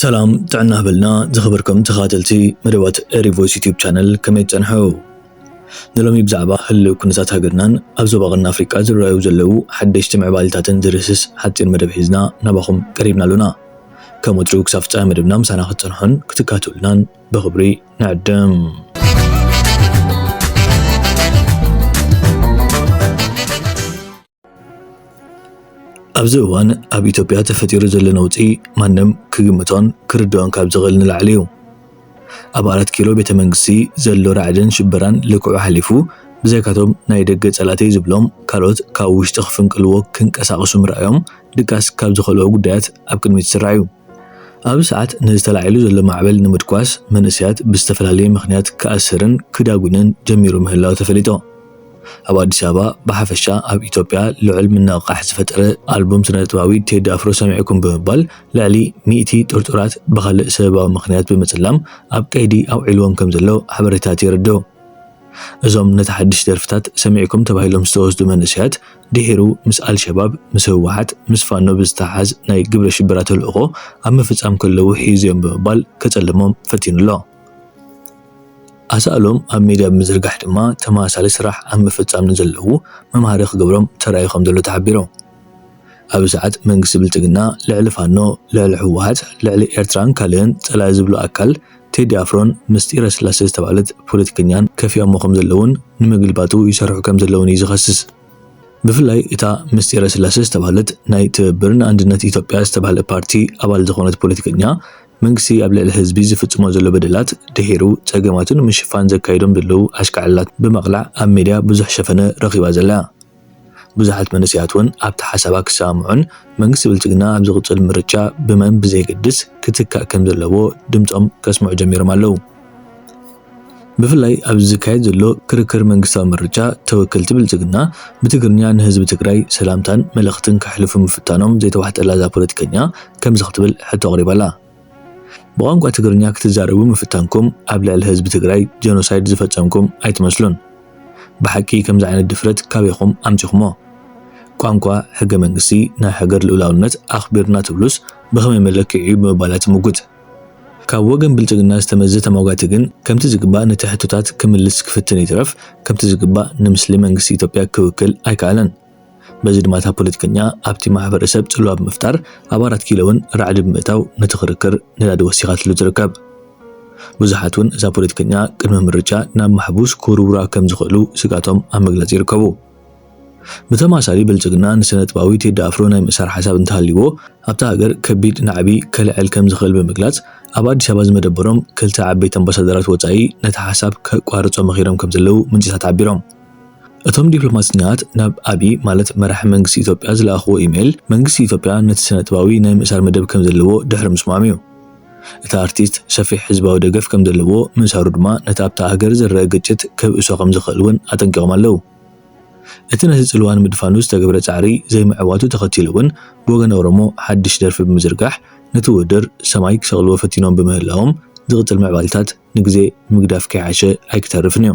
ሰላም ጥዕና ህበልና ዝኸበርኩም ተኸታተልቲ መደባት ሪቮይስ ዩቲዩብ ቻነል ከመይ ትጸንሑ ንሎሚ ብዛዕባ ህልው ኩነታት ሃገርናን ኣብ ዞባ ቀርኒ ኣፍሪቃ ዝረኣዩ ዘለዉ ሓደሽቲ ምዕባለታትን ዝርህስስ ሓጺር መደብ ሒዝና ናባኹም ቀሪብና ኣሎና ከም ወትሩ ክሳብ ፍጻሜ መደብና ምሳና ክትጸንሑን ክትካትሉናን ብኽብሪ ንዕድም ኣብዚ እዋን ኣብ ኢትዮጵያ ተፈጢሩ ዘሎ ነውጺ ማንም ክግምቶን ክርድኦን ካብ ዝኽእል ንላዕሊ እዩ። ኣብ ኣራት ኪሎ ቤተ መንግስቲ ዘሎ ራዕድን ሽበራን ልክዑ ሓሊፉ ብዘይካቶም ናይ ደገ ጸላእተይ ዝብሎም ካልኦት ካብ ውሽጢ ክፍንቅልዎ ክንቀሳቐሱ ምርኣዮም ድቃስ ካብ ዝኸልኦ ጉዳያት ኣብ ቅድሚት ዝስራዕ እዩ። ኣብዚ ሰዓት ነዚ ተላዒሉ ዘሎ ማዕበል ንምድቋስ መንእሰያት ብዝተፈላለየ ምኽንያት ክኣስርን ክዳጉንን ጀሚሩ ምህላው ተፈሊጦ። ኣብ ኣዲስ ኣበባ ብሓፈሻ ኣብ ኢትዮጵያ ልዑል ምንቕቓሕ ዝፈጠረ ኣልቡም ስነጥበባዊ ቴዲ ኣፍሮ ሰሚዕኩም ብምባል ልዕሊ ሚእቲ ጥርጡራት ብኻልእ ሰበባዊ ምኽንያት ብምጽላም ኣብ ቀይዲ ኣውዒልዎም ከምዘሎ ሓበሬታት የረድኡ። እዞም ነቲ ሓድሽ ደርፍታት ሰሚዕኩም ተባሂሎም ዝተወስዱ መንእሰያት ድሒሩ ምስ ኣልሸባብ፣ ምስ ህወሓት፣ ምስ ፋኖ ብዝተሓሓዝ ናይ ግብረ ሽበራ ተልእኾ ኣብ ምፍፃም ከለዉ ሒዙ'ዮም ብምባል ከፀልሞም ፈቲኑ'ሎ። ኣሳእሎም ኣብ ሚድያ ብምዝርጋሕ ድማ ተመሳሳሊ ስራሕ ኣብ ምፍፃም ንዘለዉ መምሃሪ ክገብሮም ተራእዩ ከምዘሎ ተሓቢሩ። ኣብዚ ሰዓት መንግስቲ ብልፅግና ልዕሊ ፋኖ፣ ልዕሊ ህወሓት፣ ልዕሊ ኤርትራን ካልእን ፀላኢ ዝብሎ ኣካል ቴዲ ኣፍሮን ምስጢረ ስላሰ ዝተባህለት ፖለቲከኛን ከፊኦሞ ከምዘለዉን ንምግልባጡ ይሰርሑ ከምዘለዉን እዩ ዝኸስስ። ብፍላይ እታ ምስጢረ ስላሰ ዝተባህለት ናይ ትብብር ንኣንድነት ኢትዮጵያ ዝተባህለ ፓርቲ ኣባል ዝኾነት ፖለቲከኛ መንግስቲ ኣብ ልዕሊ ህዝቢ ዝፍፅሞ ዘሎ በደላት ድሒሩ ፀገማቱ ንምሽፋን ዘካይዶም ዘለዉ ኣሽካዕላላት ብምቕላዕ ኣብ ሚድያ ብዙሕ ሸፈነ ረኺባ ዘላ ብዙሓት መንእሰያት እውን ኣብቲ ሓሳባ ክሰማምዑን መንግስቲ ብልፅግና ኣብ ዝቕፅል ምርጫ ብመን ብዘየገድስ ክትካእ ከምዘለዎ ድምፆም ከስምዑ ጀሚሮም ኣለዉ። ብፍላይ ኣብዚ ዝካየድ ዘሎ ክርክር መንግስታዊ ምርጫ ተወከልቲ ብልፅግና ብትግርኛ ንህዝቢ ትግራይ ሰላምታን መልእኽትን ከሕልፉ ምፍታኖም ዘይተዋሕጠላ እዛ ፖለቲከኛ ከምዚ ክትብል ሕቶ ኣቕሪባ'ላ። ብቋንቋ ትግርኛ ክትዛረቡ ምፍታንኩም ኣብ ልዕሊ ህዝቢ ትግራይ ጀኖሳይድ ዝፈጸምኩም ኣይትመስሉን ብሓቂ ከምዚ ዓይነት ድፍረት ካበይኹም ኣምጺኹሞ ቋንቋ ሕገ መንግስቲ ናይ ሃገር ልኡላውነት ኣኽቢርና ትብሉስ ብኸመይ መለክዒ እዩ ብምባላ ትምጉት ካብ ወገን ብልጽግና ዝተመዘ ተሟጋቲ ግን ከምቲ ዝግባእ ነቲ ሕቶታት ክምልስ ክፍትን ይትረፍ ከምቲ ዝግባእ ንምስሊ መንግስቲ ኢትዮጵያ ክውክል ኣይከኣለን። በዚ ድማ እታ ፖለቲከኛ ኣብቲ ማሕበረሰብ ፅልዋ ብምፍጣር ኣብ ኣራት ኪሎ እውን ራዕዲ ብምእታው ነቲ ክርክር ነዳዲ ወሲኻትሉ ትርከብ። ብዙሓት እውን እዛ ፖለቲከኛ ቅድሚ ምርጫ ናብ ማሕቡስ ክውርውራ ከምዝኽእሉ ስግኣቶም ኣብ ምግላፅ ይርከቡ። ብተመሳሳሊ ብልፅግና ንስነጥበባዊ ቴዲ ኣፍሮ ናይ ምእሳር ሓሳብ እንተሃልይዎ ኣብታ ሃገር ከቢድ ናዕቢ ከልዕል ከምዝኽእል ብምግላፅ ኣብ ኣዲስ ኣበባ ዝመደበሮም ክልተ ዓበይቲ ኣምባሳደራት ወፃኢ ነቲ ሓሳብ ከቋርፆ መኺሮም ከምዘለዉ ምንጭታት ሓቢሮም። እቶም ዲፕሎማሰኛታት ናብ ኣቢይ ማለት መራሒ መንግስቲ ኢትዮጵያ ዝለኣኽዎ ኢሜይል፣ መንግስቲ ኢትዮጵያ ነቲ ስነጥበባዊ ናይ ምእሳር መደብ ከምዘለዎ ድሕሪ ምስምዖም'ዩ። እቲ ኣርቲስት ሰፊሕ ህዝባዊ ደገፍ ከምዘለዎ ምእሳሩ ድማ ነቲ ኣብታ ሃገር ዝረኣ ግጭት ከብእሶ ከምዝኽእል'ውን ኣጠንቂቖም ኣለዉ። እቲ ነቲ ጽልዋ ንምድፋኑ ዝተገብረ ጻዕሪ ዘይምዕዋቱ ተኸቲሉ'ውን ብወገን ኦሮሞ ሓድሽ ደርፊ ብምዝርጋሕ ነቲ ውድድር ሰማይ ክሰቕልዎ ፈቲኖም ብምህላዎም ዝቕጽል ምዕባለታት ንግዜ ምግዳፍ ከይሓሸ ኣይክተርፍን'ዩ።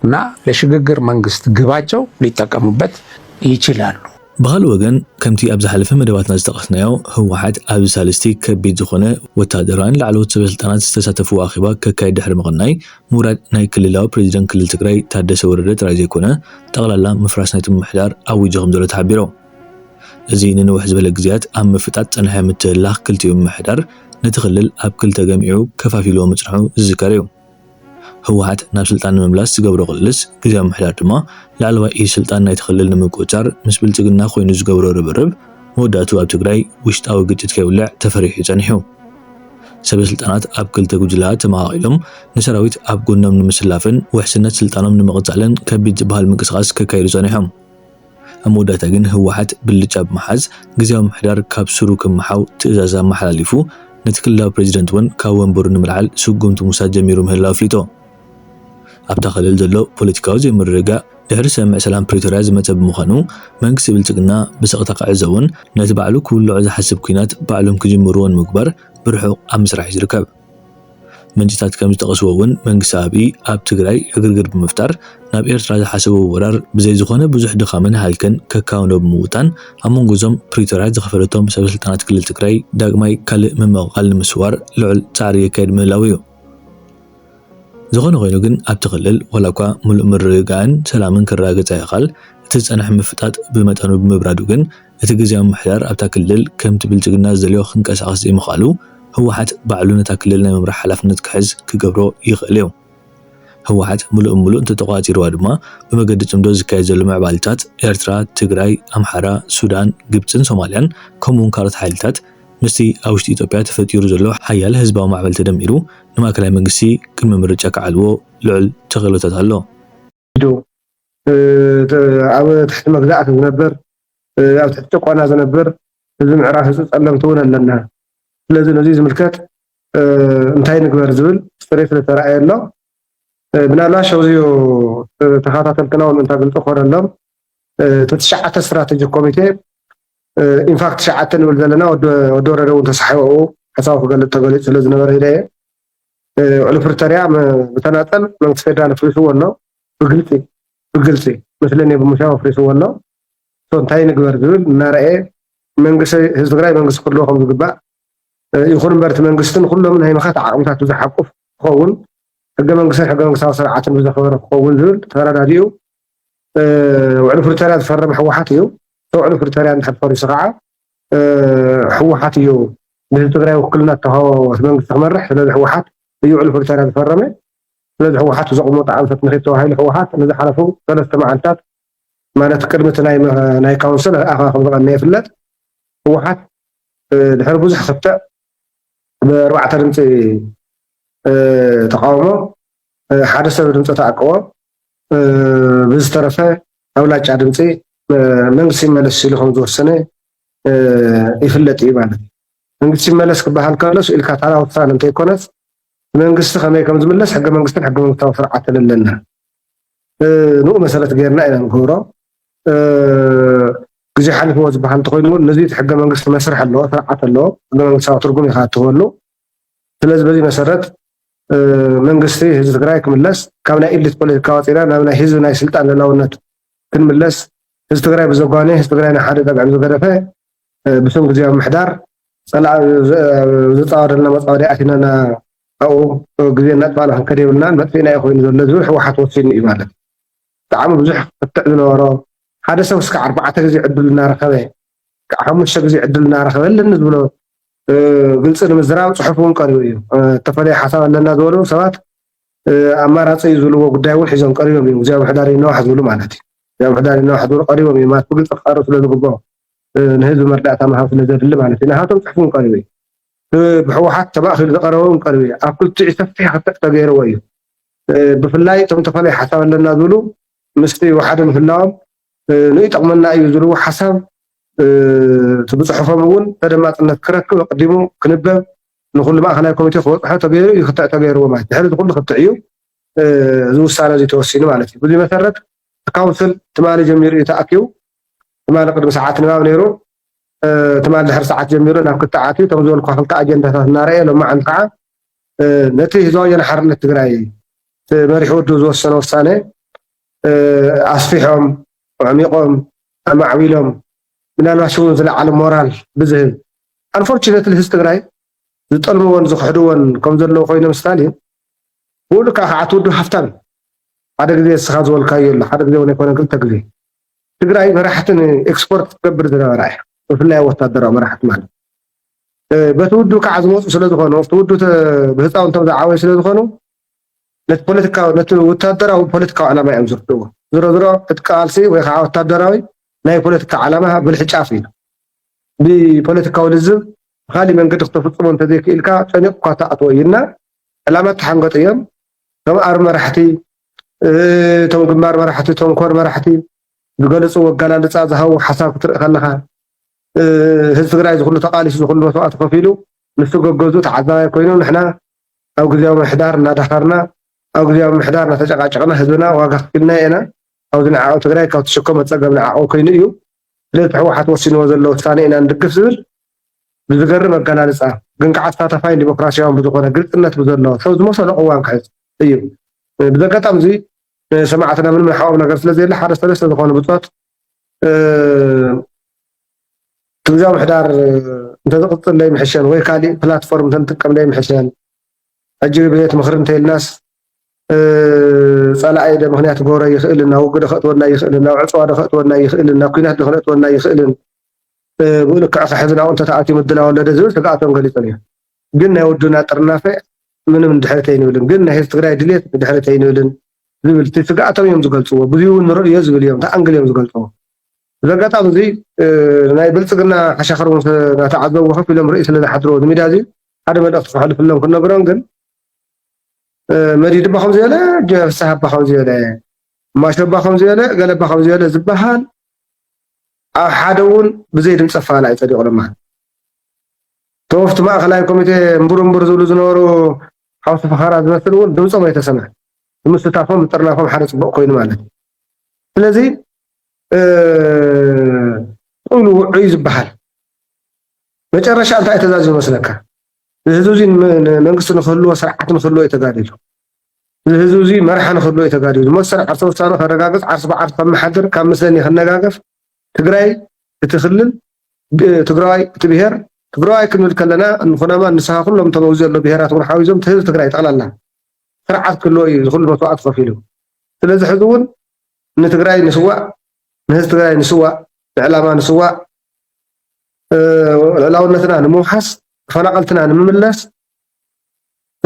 እና ለሽግግር መንግስት ግባቸው ሊጠቀሙበት ይችላሉ። ብኻልእ ወገን ከምቲ ኣብ ዝሓለፈ መደባትና ዝጠቐስናዮ ህወሓት ኣብዚ ሳልስቲ ከቢድ ዝኾነ ወታደራዊን ላዕለዎት ሰበስልጣናት ዝተሳተፍዎ ኣኼባ ከካይድ ድሕሪ ምቕናይ ምውራድ ናይ ክልላዊ ፕረዚደንት ክልል ትግራይ ታደሰ ወረደ ጥራይ ዘይኮነ ጠቕላላ ምፍራስ ናይቲ ምምሕዳር ኣዊጁ ከምዘሎ ተሓቢሩ። እዚ ንንውሕ ዝበለ ግዜያት ኣብ ምፍጣጥ ዝጸንሐ ምትህልላኽ ክልቲኡ ምምሕዳር ነቲ ክልል ኣብ ክልተ ገሚዑ ከፋፊልዎ ምጽንሑ ዝዝከር እዩ። ህወሓት ናብ ስልጣን ንምምላስ ዝገብሮ ቅልስ ግዝያዊ ምምሕዳር ድማ ላዕለዋይ ኢድ ስልጣን ናይቲ ክልል ንምቁፅፃር ምስ ብልፅግና ኮይኑ ዝገብሮ ርብርብ መወዳእትኡ ኣብ ትግራይ ውሽጣዊ ግጭት ከይውልዕ ተፈሪሑ እዩ ፀኒሑ። ሰበ ስልጣናት ኣብ ክልተ ጉጅለኣ ተመቓቒሎም ንሰራዊት ኣብ ጎኖም ንምስላፍን ውሕስነት ስልጣኖም ንምቕፃልን ከቢድ ዝበሃል ምንቅስቓስ ከካይዱ ፀኒሖም። ኣብ መወዳእታ ግን ህወሓት ብልጫ ብምሓዝ ግዝያዊ ምምሕዳር ካብ ሱሩ ክመሓው ትእዛዝ ኣመሓላሊፉ፣ ነቲ ክልላዊ ፕረዚደንት እውን ካብ ወንበሩ ንምልዓል ስጉምቲ ምውሳድ ጀሚሩ ምህላው ኣፍሊጡ። ኣብታ ክልል ዘሎ ፖለቲካዊ ዘይምርግጋእ ድሕሪ ስምምዕ ሰላም ፕሪቶርያ ዝመፀ ብምዃኑ መንግስቲ ብልፅግና ብስቕታ ክዕዘቦን ነቲ ባዕሉ ክውልዖ ዝሓስብ ኲናት ባዕሎም ክጅምርዎ ንምግባር ብርሑቕ ኣብ ምስራሕ እዩ ዝርከብ። ምንጭታት ከም ዝጠቐስዎ እውን መንግስቲ ኣብይ ኣብ ትግራይ ዕግርግር ብምፍጣር ናብ ኤርትራ ዝሓሰቦ ወራር ብዘይ ዝኾነ ብዙሕ ድኻምን ሃልክን ከካውኖ ብምውጣን ኣብ መንጎ እዞም ፕሪቶርያ ዝኸፈለቶም ሰበስልጣናት ክልል ትግራይ ዳግማይ ካልእ ምምቕቓል ንምስዋር ልዑል ፃዕሪ የካይድ ምህላው እዩ። ዝኾነ ኮይኑ ግን ኣብቲ ክልል ዋላ እኳ ምሉእ ምርግጋእን ሰላምን ክረጋገፅ ኣይኻል እቲ ዝፀንሐ ምፍጣጥ ብመጠኑ ብምብራዱ ግን እቲ ግዝያዊ ምምሕዳር ኣብታ ክልል ከምቲ ብልፅግና ዝደልዮ ክንቀሳቐስ ዘይምኽኣሉ ህወሓት ባዕሉ ነታ ክልል ናይ ምምራሕ ሓላፍነት ክሕዝ ክገብሮ ይኽእል እዩ። ህወሓት ምሉእ ብምሉእ እንተተቖፃፂርዋ ድማ ብመገዲ ፅምዶ ዝካየድ ዘሎ ምዕባሊታት ኤርትራ፣ ትግራይ፣ ኣምሓራ፣ ሱዳን፣ ግብፅን ሶማልያን ከምኡ እውን ካልኦት ሓይልታት ምስቲ ኣብ ውሽጢ ኢትዮጵያ ተፈጢሩ ዘሎ ሓያል ህዝባዊ ማዕበል ተደሚሩ ንማእከላይ መንግስቲ ቅድመ ምርጫ ክዓልዎ ልዑል ተኽእሎታት ኣሎ። ተገዲዱ ኣብ ትሕቲ መግዛእቲ ዝነብር ኣብ ትሕቲ ጭቆና ዝነብር ህዝቢ ምዕራብ ህዝቢ ፀለምቲ እውን ኣለና ስለዚ ነዙይ ዝምልከት እንታይ ንግበር ዝብል ፅሬት ስለተረኣየ ኣሎ ምናልባሽ ኣብዚዮ ተኸታተልትና እውን እንታ ግልፂ ኮነሎም እቲ ትሽዓተ ስትራቴጂ ኮሚቴ ኢንፋክት ትሽዓተ ንብል ዘለና ወዲ ወረደ እውን ተሳሒቦ ሓሳቡ ክገልፅ ተገሊፁ ስለ ዝነበረ ኢለ እየ ውዕሊ ፕሪቶርያ ብተናፀል መንግስቲ ፌደራል ኣፍሪስዎ ኣሎ ብግልፂ ብግልፂ ምስሊ እኔ ብምሻው ኣፍሪስዎ ኣሎ ሶ እንታይ ንግበር ዝብል እናረኣየ መንግስቲ ህዝቢ ትግራይ መንግስቲ ክህልዎ ከም ዝግባእ ይኹን እምበር እቲ መንግስቲ ንኩሎም ናይ ምኻት ዓቕምታት ብዝሓቁፍ ክኸውን ሕገ መንግስትን ሕገ መንግስታዊ ስርዓትን ብዘኸበረ ክኸውን ዝብል ተረዳዲኡ ውዕሊ ፕሪቶርያ ዝፈረመ ህወሓት እዩ ውዕሊ ፕሪቶርያ እንድሕር ፈሪሱ ከዓ ህወሓት እዩ ንህዝቢ ትግራይ ውክልና ዝተውሃቦ እቲ መንግስቲ ክመርሕ ስለዚ ህወሓት እዩ ዕሉ ፕሪቶርያ ዝፈረመ ስለዚ ህወሓት ዘቕመጦ ኣንፈት ንኺድ ተባሂሉ ህወሓት ንዝሓለፉ ሰለስተ መዓልትታት ማለት ቅድሚ እቲ ናይ ካውንስል ኣኸባ ከም ዝቐነየ ይፍለጥ ህወሓት ድሕሪ ብዙሕ ክትዕ ብኣርባዕተ ድምፂ ተቃውሞ ሓደ ሰብ ድምፂ ተኣቅቦ ብዝተረፈ ኣብላጫ ድምፂ መንግስቲ ይመለስ ሲሉ ከም ዝወሰነ ይፍለጥ እዩ ማለት እዩ። መንግስቲ ይመለስ ክበሃል ከሎስ ኢልካ ታራ ውሳነ እንተይኮነስ መንግስቲ ከመይ ከም ዝምለስ ሕገ መንግስትን ሕገ መንግስታዊ ስርዓትን ኣለና ንኡ መሰረት ገይርና ኢና ንገብሮ ግዜ ሓሊፍዎ ዝበሃል እንተኮይኑ እውን ነዚ ሕገ መንግስቲ መስርሕ ኣለዎ ስርዓት ኣለዎ ሕገ መንግስታዊ ትርጉም ኢካ እትህበሉ ስለዚ በዚ መሰረት መንግስቲ ህዝቢ ትግራይ ክምለስ ካብ ናይ ኢሊት ፖለቲካ ወፂና ናብ ናይ ህዝቢ ናይ ስልጣን ልላውነት ክንምለስ ህዝቢ ትግራይ ብዘጓነ ህዝቢ ትግራይ ናይ ሓደ ጠብዕን ዝገደፈ ብስም ግዜያዊ ምሕዳር ፀላእ ዝፃወደልና መፃወዲ ኣቲናና ኣብኡ ግዜ እናጥፋእና ክንከደ የብልናን መጥፊእና እዩ ኮይኑ ዘሎ ዝብል ህወሓት ወሲኑ እዩ ማለት ብጣዕሚ ብዙሕ ክትዕ ዝነበሮ ሓደ ሰብ እስከ ኣርባዕተ ግዜ ዕድል እናረኸበ ክሳዕ ሓሙሽተ ግዜ ዕድል እናረኸበ ኣለኒ ዝብሎ ግልፂ ንምዝራብ ፅሑፍ እውን ቀሪቡ እዩ። እተፈለየ ሓሳብ ኣለና ዝበሉ ሰባት ኣማራፂ እዩ ዝብልዎ ጉዳይ እውን ሒዞም ቀሪቦም እዮም። ግዜያዊ ምሕዳር ይነዋሕ ዝብሉ ማለት እዩ። ግዜያዊ ምሕዳር ይነዋሕ ዝብሉ ቀሪቦም እዮም ማለት ብግልፂ ክቐርብ ስለ ዝግብኦ ንህዝቢ መረዳእታ ምሃብ ስለ ዘድሊ ማለት እዩ። ናሃቶም ፅሑፍ እውን ቀሪቡ እዩ። ብሕወሓት ተማእኺሉ ዝቐረበ እውን ቀሪቡ እዩ። ኣብ ክልቲኡ ሰፊሕ ክትዕ ተገይርዎ እዩ። ብፍላይ እቶም ተፈለየ ሓሳብ ኣለና ዝብሉ ምስቲ ወሓደ ምህላዎም ንይጠቕመና እዩ ዝብልዎ ሓሳብ እቲ ብፅሑፎም እውን ተደማፅነት ክረክብ ኣቐዲሙ ክንበብ ንኹሉ ማእኸላይ ኮሚቴ ክበፅሖ ተገይሩ እዩ ክትዕ ተገይርዎ ማለት ድሕሪ እዚ ኩሉ ክትዕ እዩ እዚ ውሳነ እዚ ተወሲኑ ማለት እዩ ብዙይ መሰረት ካውንስል ትማሊ ጀሚሩ እዩ ተኣኪቡ ትማሊ ቅድሚ ሰዓት ንባብ ነይሩ ትማሊ ድሕሪ ሰዓት ጀሚሩ ናብ ክትዕ ኣትዩ እቶም ዝበልኩ ክልተ ኣጀንዳታት እናረኣየ ሎማዓንቲ ከዓ ነቲ ህዝባዊ ወያነ ሓርነት ትግራይ መሪሕ ወዱ ዝወሰነ ውሳነ ኣስፊሖም፣ ኣዕሚቖም፣ ኣማዕቢሎም ምናልባሽ እውን ዝለዓለ ሞራል ብዝህብ Unfortunately ህዝቢ ትግራይ ዝጠልምዎን ዝኽሕድዎን ከም ዘለዉ ኮይኖም ስታሊን ብኡ ልክዕ ከዓ እቲ ውድብ ሃፍታም እዩ። ሓደ ግዜ እስኻ ዝበልካዮ ኣሎ ሓደ ግዜ እውን ኣይኮነን ክልተ ግዜ ትግራይ መራሕቲ ንኤክስፖርት ትገብር ዝነበራ እያ ብፍላይ ኣብ ወታደራዊ መራሕቲ ማለት በቲ ውድብ ከዓ ዝመፁ ስለዝኾኑ ኣብቲ ውድብ ብህፃውንቶም ዝዓበዩ ስለዝኾኑ ነቲ ፖለቲካዊ ነቲ ወታደራዊ ፖለቲካዊ ዕላማ እዮም ዝርድእዎ። ዝሮ ዝሮ እቲ ቃልሲ ወይ ከዓ ወታደራዊ ናይ ፖለቲካ ዓላማ ብልሒ ጫፍ እዩ። ብፖለቲካዊ ልዝብ ብካሊእ መንገዲ ክተፍፅሞ እንተዘይክኢልካ ጨኒቑካ ትኣትዎ እዩ እና ዕላማ ተሓንገጡ እዮም። እቶም ኣር መራሕቲ እቶም ግንባር መራሕቲ እቶም ኮር መራሕቲ ዝገለፅዎ ኣገላልፃ ዝሃቡ ሓሳብ ክትርኢ ከለኻ ህዝቢ ትግራይ ዝኩሉ ተቃሊሱ ዝኩሉ መስዋእቲ ከፊሉ ንሱ ገገዙ ተዓዛባይ ኮይኖም ንሕና ኣብ ግዝያዊ ምምሕዳር እናዳኸርና ኣብ ግዝያዊ ምምሕዳር እናተጨቓጨቕና ህዝብና ዋጋ ኣኽፊልናዮ ኢና። ኣብዚ ንዓቐብ ትግራይ ካብ ትሽከሞ ፀገም ንዓቐብ ኮይኑ እዩ። ስለዚ እቲ ህወሓት ወሲንዎ ዘሎ ውሳነ ኢና ንድግፍ ዝብል ብዝገርም ኣገላልፃ ግን ከዓ ተሳታፋይን ዲሞክራሲያውን ብዝኾነ ግልፅነት ብዘለዎ ሰብ ዝመሰሎ ቅዋም ክሕዝ እዩ። ብዚ ኣጋጣሚ እዙይ ንሰማዕትና ምንም ንሓኦም ነገር ስለዘየለ ሓደ ሰለስተ ዝኾኑ ብፆት ግዝያዊ ምሕዳር እንተዝቕፅል ዘይምሕሸን ወይ ካሊእ ፕላትፎርም እንተንጥቀም ዘይምሕሸን ሕጂ ብቤት ምኽሪ እንተይልናስ ፀላኢ ዶ ምክንያት ክገብሮ ይኽእልን ናብ ውግእ ዶ ከእትወና ይኽእልን ናብ ዕፅዋ ዶ ከእትወና ይኽእልን ናብ ኩናት ዶ ከእትወና ይኽእልን ብኡ ልክዕ ከሕዝናኡ እንተተኣትዩ ምድላው ኣሎ ዝብል ስግኣቶም ገሊፆም እዮም። ግን ናይ ውድብና ጥርናፈ ምንም ንድሕሪት ኣይንብልን ግን ናይ ህዝቢ ትግራይ ድልየት ንድሕሪት ኣይንብልን ዝብል እቲ ስግኣቶም እዮም ዝገልፅዎ ብዙይ እውን ንርእ እዮ ዝብል እዮም እቲ ኣንግል እዮም ዝገልፅዎ እዚ ኣጋጣሚ እዙይ ናይ ብልፅግና ሓሻኽር እውን ናተዓዘብዎ ከፍ ኢሎም ርእይ ስለ ዝሓድርዎ እዚ ሚድያ እዙይ ሓደ መልእኽቲ ክሕልፍሎም ክነግሮም ግን መዲድ እባ ከምዚ በለ ፍስሃ እባ ከምዚ በለ ማሾ እባ ከምዚ በለ ገለ እባ ከምዚ በለ ዝበሃል ኣብ ሓደ እውን ብዘይ ድምፀ ፋላ እዩ ፀዲቑ ለማን እቶም ኣብቲ ማእኸላይ ኮሚቴ እምቡር እምቡር ዝብሉ ዝነበሩ ሓውሲ ፈኸራ ዝመስል እውን ድምፆም ኣይተሰምዐን። ንምስታፎም ምጥርናፎም ሓደ ፅቡቕ ኮይኑ ማለት እዩ። ስለዚ ቁሉ ውዑይ ዝበሃል መጨረሻ እንታይ ተዛዝዩ መስለካ? ንህዝቢ እዚ መንግስቲ ንክህልዎ ስርዓት ንክህልዎ እዩ ተጋዲሉ። ንህዝቢ እዚ መርሓ ንክህልዎ እዩ ተጋዲሉ። መሰል ዓርሰ ውሳነ ከረጋግፅ ዓርሲ ብዓርሲ ከመሓድር ካብ ምስለኒ ክነጋገፍ ትግራይ እቲ ክልል ትግራዋይ እቲ ብሄር ትግራዋይ ክንብል ከለና እንኹናማ ንስኻ ኩሎም እቶም ኣብዚ ዘሎ ብሄራት እውን ሓዊዞም እቲ ህዝቢ ትግራይ ጠቕላላ ስርዓት ክህልዎ እዩ ዝኹሉ መስዋዕቲ ከፊሉ ስለዚ ሕዚ እውን ንትግራይ ንስዋእ ንህዝቢ ትግራይ ንስዋእ ንዕላማ ንስዋእ ልዕላውነትና ንምውሓስ ተፈናቐልትና ንምምለስ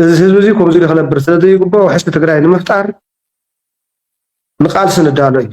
እዚ ህዝቢ እዚ ከምዚ ኢሉ ክነብር ስለዘይግባእ ውሕስቲ ትግራይ ንምፍጣር ንቃልሲ ንዳሎ እዩ